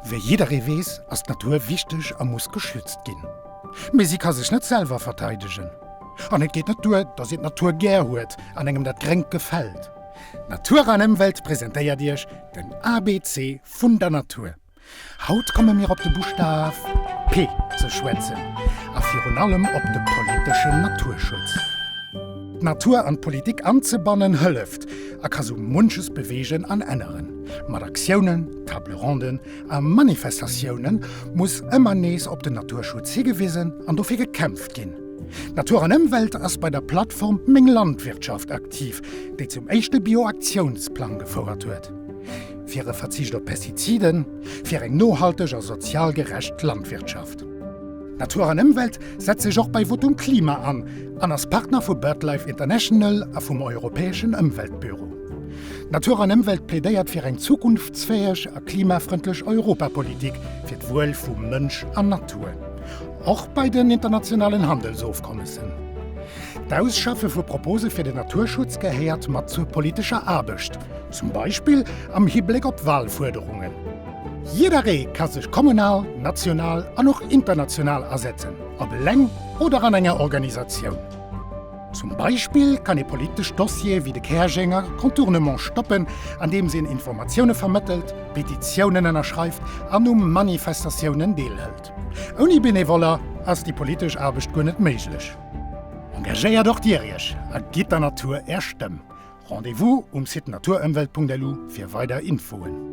Wéi jidderee weess, ass d'Natur wichteg a muss geschützt ginn. Mee si ka sech net selwer verteidegen. An et geet net duer, datt een d'Natur gär huet an engem dat Gréngt gefält. Natur an Ëmwelt presentéiert Iech den ABC vun der Natur. Haut komme mir op de Buschtaf P ze schwätzen a virun allem op de politeschen Naturschutz. D'Natur an d'Politik anzebannen hëlleft a ka sou munches beweegen an änneren. Mat Aktiounen, Table ronden a Manifestatioune muss ëmmer nees op den Naturschutz higewisen an dofir gekämpft ginn. Natur an Ëmwelt ass bei der Plattform Meng Landwirtschaft aktiv, déi zum éischte Bio-Aktiounsplang gefouert huet. Fir e Verzicht op Pestiziden, fir eng nohalteg a sozial gerecht Landwirtschaft. Natur an Ëmwelt setzt sech och bei Votum Klima an an ass Partner vu BirdLife International a vum Europäeschen Ëmweltbüro. Natur an Ëmwelt plädéiert fir eng zukunftsfäeg a klimafrëndlech Europapolitik fir d'Wuel vu Mënsch an Natur, och bei den internationalen Handelsofkommessen. D'Ausschaffe vu Propose fir den Naturschutz gehéiert mat zur politescher Aarbecht, zum Beispill am Hibléck op Walfuerderungen. Jidderee ka sech kommunal, national an och international asetzen, op eleng oder an enger Organisatioun. Zum Beispill kann ee politesch Dossiere wéi de Käerjenger Contournement stoppen, andeems een Informatioune vermëttelt, Petitiounen ënnerschreift an u Manifestatiounen deelhëlt. Ouni Benevoller ass déi politesch Aarbecht guer net méiglech. Engagéiert och Dir Iech a gitt der Natur Är Stëmm. Rendez-vous um Site naturëmwelt.lu fir weider Infoen.